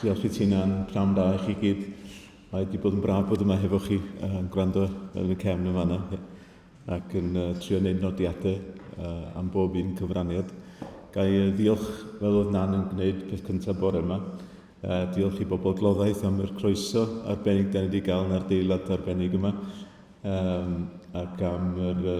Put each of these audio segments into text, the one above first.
Diolch i ti'n a'n pnawn da i chi gyd. Mae wedi bod yn braf bod yma hefo chi yn uh, gwrando yn y cefn yn fanna ac yn uh, trio wneud nodiadau uh, am bob un cyfraniad. Gai uh, ddiolch fel oedd Nan yn gwneud peth cyntaf bore yma. Uh, diolch i bobl gloddaeth am yr croeso arbennig da ni wedi gael yn ardeilad arbennig yma um, ac am yr uh,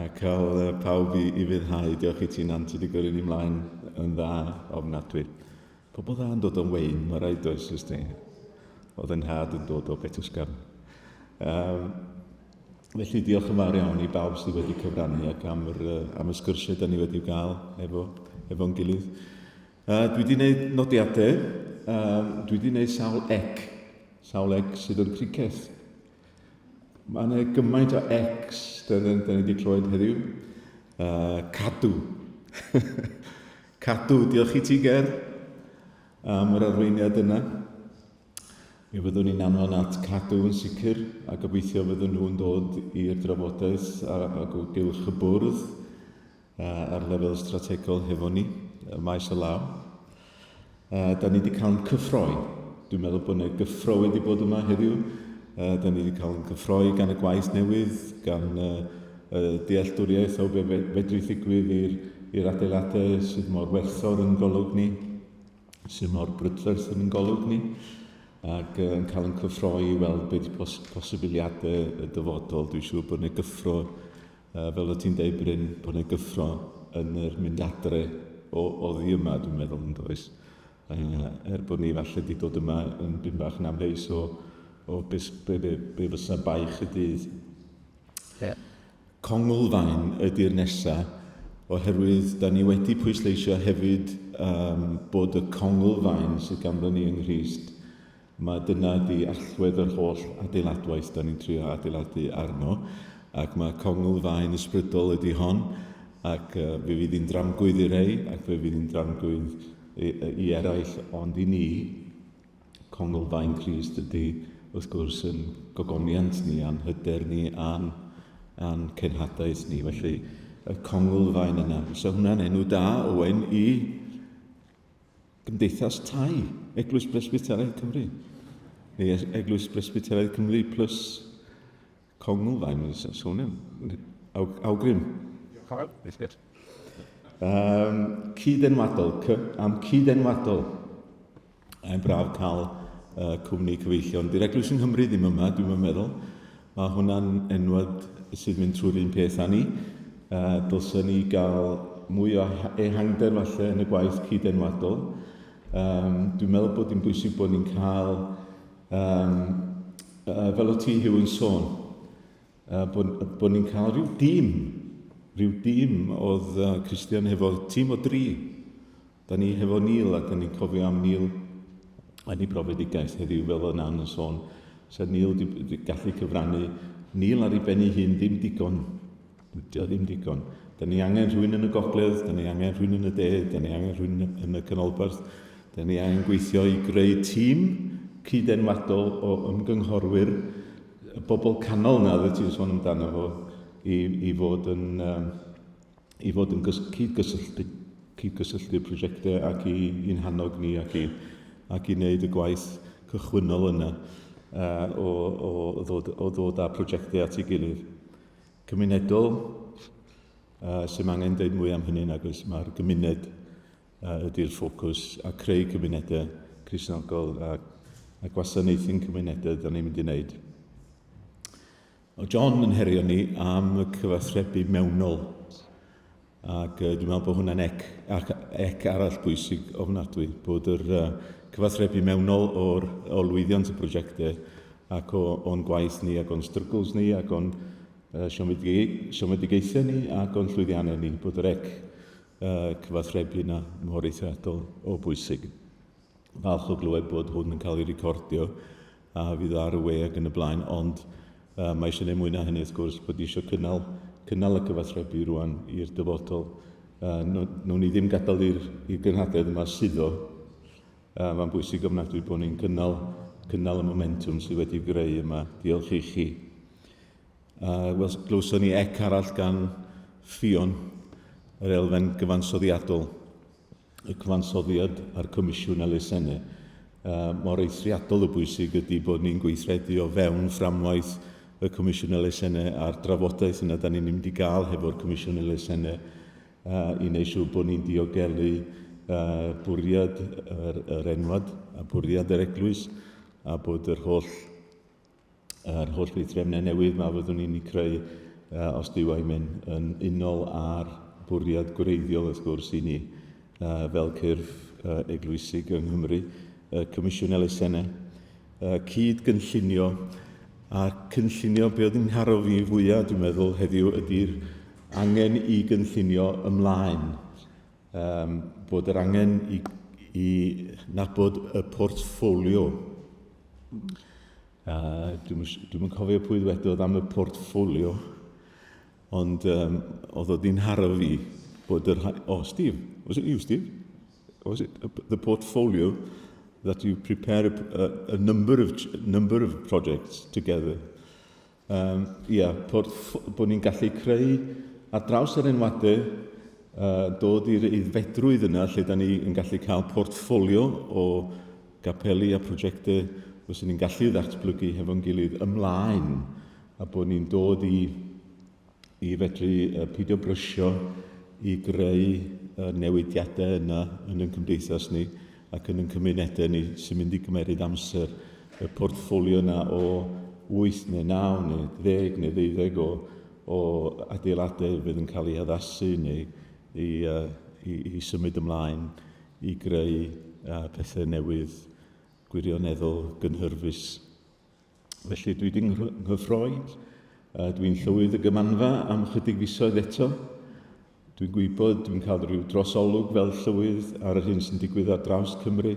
A cael pawb i ufuddhau. Diolch i ti Nant, ti wedi gyrru ni mlaen yn dda ofnadwy. Pobl dda yn dod o'n wein, mae rhaid oes ys ti. Oedd yn nhad yn dod o Betwsgarn. Um, felly diolch yn fawr iawn i bawb sydd wedi cyfrannu ac am, yr, am y sgyrsiau da ni wedi gael efo, efo'n gilydd. Uh, dwi wedi gwneud nodiadau, um, dwi wedi gwneud sawl ec, sawl ec sydd yn criceth. Mae yna gymaint o ex, da ni wedi clywed heddiw. Uh, cadw. cadw, diolch i ti, Ger, am yr arweiniad yna. Mi fyddwn ni'n anfon at cadw yn sicr, a gobeithio fyddwn nhw'n dod i'r drafodaeth ar o gylch y bwrdd. ar lefel strategol hefo ni, y maes o law. A da ni wedi cael yn cyffroi. Dwi'n meddwl bod yna gyffro wedi bod yma heddiw. A da ni wedi cael yn cyffroi gan y gwaith newydd, gan y, y dealltwriaeth o be fedru ddigwydd i'r adeiladau sydd mor werthfawr yn golwg ni, sydd mor brydferth yn golwg ni ac yn cael yn cyffroi i weld beth pos posibiliadau y dyfodol. Dwi'n siŵr bod yna gyffro Yy fel o ti'n deud Bryn bod yna gyffro yn yr mynd adre o oddi yma dwi'n meddwl yn does. Yy er bod ni falle wedi dod yma yn bum bach yn amheus o o beth be, be, be fysa baich y dydd. Yeah. Conglfaen ydy'r nesa oherwydd da ni wedi pwysleisio hefyd um, bod y conglfaen sydd ganddo ni yng Nghyst Mae dyna di allwedd yr holl adeiladwaith dan ni'n trio adeiladu arno ac mae congl faen ysbrydol ydi hon ac uh, fe fydd hi'n dramgwydd i rei ac fe fydd hi'n dramgwydd i, i eraill ond i ni congl faen Christ ydi wrth gwrs yn gogoniant ni a'n hyder ni a'n, a'n cenhadaeth ni felly y congl faen yna. So hwnna'n enw da, Owen, i Gymdeithas Tai Eglwys Bresbyteraidd Cymru, neu Eglwys Bresbyteraidd Cymru plus Congl, fain yn sôn am, awgrym. Um, cyd-enwadol, am cyd-enwadol. Mae'n braf cael uh, cwmni cyfeillion. Di'r Eglwys yng Nghymru ddim yma, dwi'n meddwl. Mae hwnna'n enwad sy'n mynd trwy'r un peth â ni. Uh, dylsen ni gael mwy o ehangder falle yn y gwaith cyd-enwadol. Um, dwi'n meddwl bod hi'n bwysig bod ni'n cael, um, uh, fel o ti Hugh yn sôn, uh, bod, bod ni'n cael rhyw dîm, rhyw dîm oedd uh, Christian hefo tîm o dri Da ni hefo Neil a da ni'n cofio am Neil yn ei brofedigaeth heddiw fel oedd Nan yn sôn. Sa'r Neil wedi gallu cyfrannu Neil ar ei ben ei hun ddim digon. Dio ddim digon. Da ni angen rhywun yn y gogledd, da ni angen rhywun yn y de, da ni angen rhywun yn y canolbarth. Da ni angen gweithio i greu tîm cyd-enwadol o ymgynghorwyr, y bobl canol na oedd ti'n sôn amdano fo, i, i fod yn, um, i fod yn cyd-gysylltu, cyd-gysylltu prosiectau ac i, i'n hannog ni ac i, ac i wneud y gwaith cychwynnol yna uh, o, o, ddod, o ddod â prosiectau at ei gilydd. Cymunedol, uh, sy'n angen dweud mwy am hynny nag oes mae'r gymuned uh, ydy'r ffocws a creu cymunedau Crisnogol a, a gwasanaethu'n cymunedau da ni'n mynd i wneud. Mae John yn herio ni am y cyfathrebu mewnol ac uh, dwi'n meddwl bod hwnna'n ec, ac ec arall bwysig ofnadwy, bod yr uh, cyfathrebu mewnol o'r, o lwyddiant y prosiectau ac o'n gwaith ni ac o'n struggles ni ac o'n uh, siomedigaethau ni ac o'n llwyddiannau ni, bod yr ec uh, cyfathrebu yna mor eithriadol o bwysig. falch o glywed bod hwn yn cael ei recordio a fydd ar y we ac yn y blaen, ond uh, mae eisiau gwneud mwy na hynny wrth gwrs bod eisiau cynnal, cynnal y cyfathrebu rwan i'r dyfodol. Uh, Nw'n ni ddim gadael i'r gynhadledd yma suddo. Uh, Mae'n bwysig ofnadwy bod ni'n cynnal, cynnal y momentum sydd wedi greu yma. Diolch i chi. Uh, Wel, glywson ni ec arall gan Ffion, yr elfen gyfansoddiadol. y cyfansoddiad a'r comisiwn elusennau, mor eithriadol o bwysig ydy bod ni'n gweithredu o fewn fframwaith y comisiwn elusennau a'r drafodaeth yna da ni'n mynd i gael hefo'r comisiwn elusennau i wneud siŵr bod ni'n diogelu bwriad yr, yr enwad a bwriad yr eglwys a bod yr holl yr holl weithrefnau newydd mae fyddwn ni'n eu creu uh, os dyw ei mynd yn unol â'r bwriad gwreiddiol wrth gwrs i ni uh, fel cyrff uh, eglwysig yng Nghymru, uh, Comisiwn Elusennau, uh, cyd gynllunio a cynllunio be oedd yn ngharo fi fwyaf dwi'n meddwl heddiw ydy'r angen i gynllunio ymlaen um, bod yr angen i, i nabod y portffolio. Uh, dwi'n dwi cofio pwy ddwedodd am y portffolio, ond um, oedd o di'n haro fi bod yr... O, oh, Steve, was it you, Steve? Was it the portfolio that you prepare a, a, a number, of, number of projects together? Um, ia, bod, bod ni'n gallu creu ar draws yr enwadau, uh, dod i'r aeddfedrwydd yna lle da ni yn gallu cael portffolio o gapeli a prosiectau os ni'n gallu ddatblygu hefo'n gilydd ymlaen a bod ni'n dod i i fedru peidio brysio i greu y newidiadau yna yn ein cymdeithas ni ac yn ein cymunedau ni sy'n mynd i gymeryd amser. Y portffolio yna o 8 neu 9 neu 10 neu 12 o, o adeiladau fydd yn cael ei haddasu neu i, uh, i, i symud ymlaen i greu uh, pethau newydd gwirioneddol gynhyrfus. Felly dwi wedi nghyffroi, a dwi'n llywydd y gymanfa am chydig fisoedd eto. Dwi'n gwybod, dwi'n cael rhyw drosolwg fel llywydd ar yr hyn sy'n digwydd ar draws Cymru,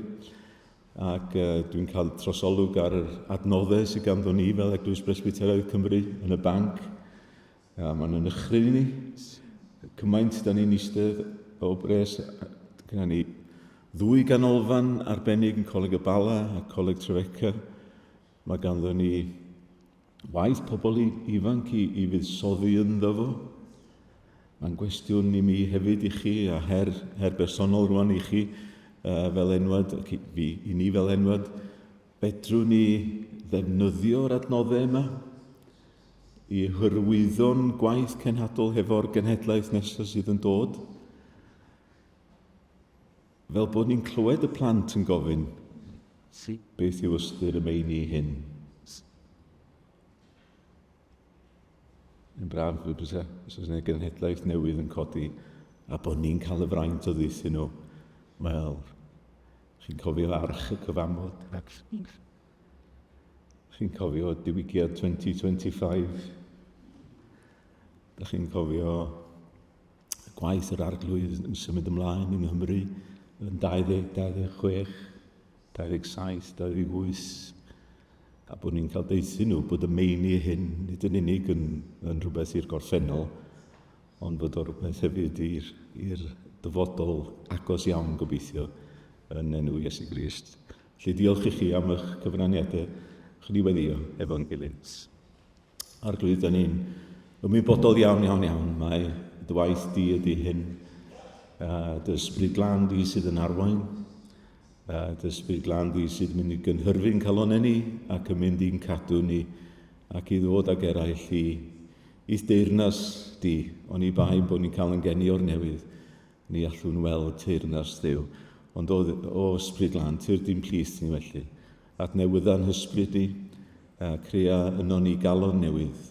ac uh, dwi'n cael trosolwg ar yr adnoddau sydd ganddo ni fel Eglwys Bresbyteraidd Cymru yn y banc, A mae'n yn ychryf i ni. Cymaint da ni'n eistedd o bres. Gyda ni ddwy ganolfan arbennig yn Coleg y Bala a Coleg Trefeca. Mae ganddo ni waith pobl ifanc i, i fuddsoddi ynddo fo. Mae'n gwestiwn i mi hefyd i chi a her, her bersonol rwan i chi uh, fel enwad, ac i, fi, i ni fel enwad, fedrwn ni ddefnyddio'r adnoddau yma i hyrwyddo'n gwaith cenhadol hefo'r genhedlaeth nesaf sydd yn dod. Fel bod ni'n clywed y plant yn gofyn, beth yw ystyr y meini hyn? Yn braf y bysa, os yna genhedlaeth newydd yn codi, a bod ni'n cael y fraint o ddeithio nhw. Wel, chi'n cofio arch y cyfamod. Chi'n cofio diwygiad 2025? Da chi'n cofio gwaith yr arglwydd yn symud ymlaen yng Nghymru yn 20, 26, 27, 28, a bod ni'n cael deuthu nhw bod y meini hyn nid yn unig yn, yn rhywbeth i'r gorffennol, ond bod o'r rhywbeth hefyd i'r dyfodol agos iawn gobeithio yn enw Iesu Grist. Felly diolch i chi am eich cyfraniadau chi ni weddio efo'n gilydd. Arglwydd, da ni'n ymwybodol iawn, iawn, iawn, mae dy waith di ydy hyn, a dy ysbryd glan di sydd yn arwain, a dy ysbryd glan di sydd mynd i gynhyrfu'n calonau ni ac yn mynd i'n cadw ni ac i ddod ag eraill i i'th deyrnas di, ond i bai bod ni'n cael yn geni o'r newydd, Ni allwn weld teyrn ar sdeu, ond o, o ysbryd lan, tir dim plith ni felly. Adnewydda'n hysbryd ni, a crea yno ni galon newydd,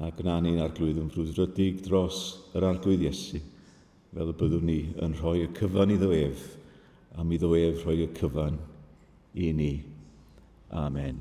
a gwna ni'n arglwydd yn frwdfrydig dros yr arglwydd Iesu, fel y byddwn ni yn rhoi y cyfan iddo ef, am iddo ef rhoi y cyfan i ni. Amen.